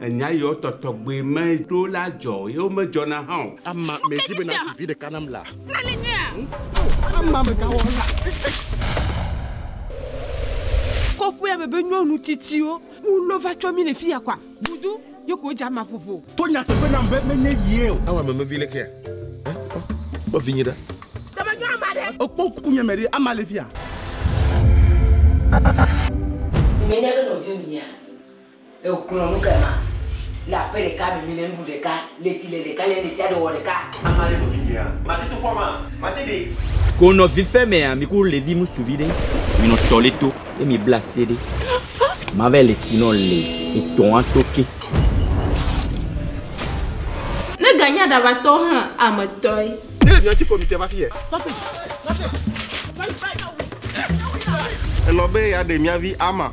Enya yiwo tɔtɔgbui mee ɖo la dzɔ, ye womedzɔna hã o. Ama, medi be nàdzi vi ɖeka nam laa. Nane nyuia? O, ama megawɔna. Kɔƒea me be nyɔnu tsitsiwo ŋu lɔ va tsɔ mí le fiya kɔa? Vudu, ye ko wodze ama ƒoƒo. To nyateƒe nam be menye yie o. Awa meme vi lekea? Ẽ, kpɔ, kpɔ vinye ɖa. Ɖe menyo ama ɖe? Ekpɔ ŋkunye me ɖe, ama le fiya. Menye be nɔviwò nyea? Egblɔ nu ke ma le aƒe ɖeka me mi le nuɖu ɖeka le tsi le ɖeka le ne sia ɖe wɔ ɖeka. Ame ma le nɔvi nyea? Mate to kpɔa ma? Mate ɖe. Ko nɔvi fe mea mi ku levi musu vi ɖe mi nɔ tɔ le to le mi bla se ɖe ma vɛ le tsi nɔ le etɔ a to ke. Ne ganye aɖabatɔ hã ame tɔe. Ne mi ati ko mi te va fiye. Elɔ be ya ɖe mia vi ama.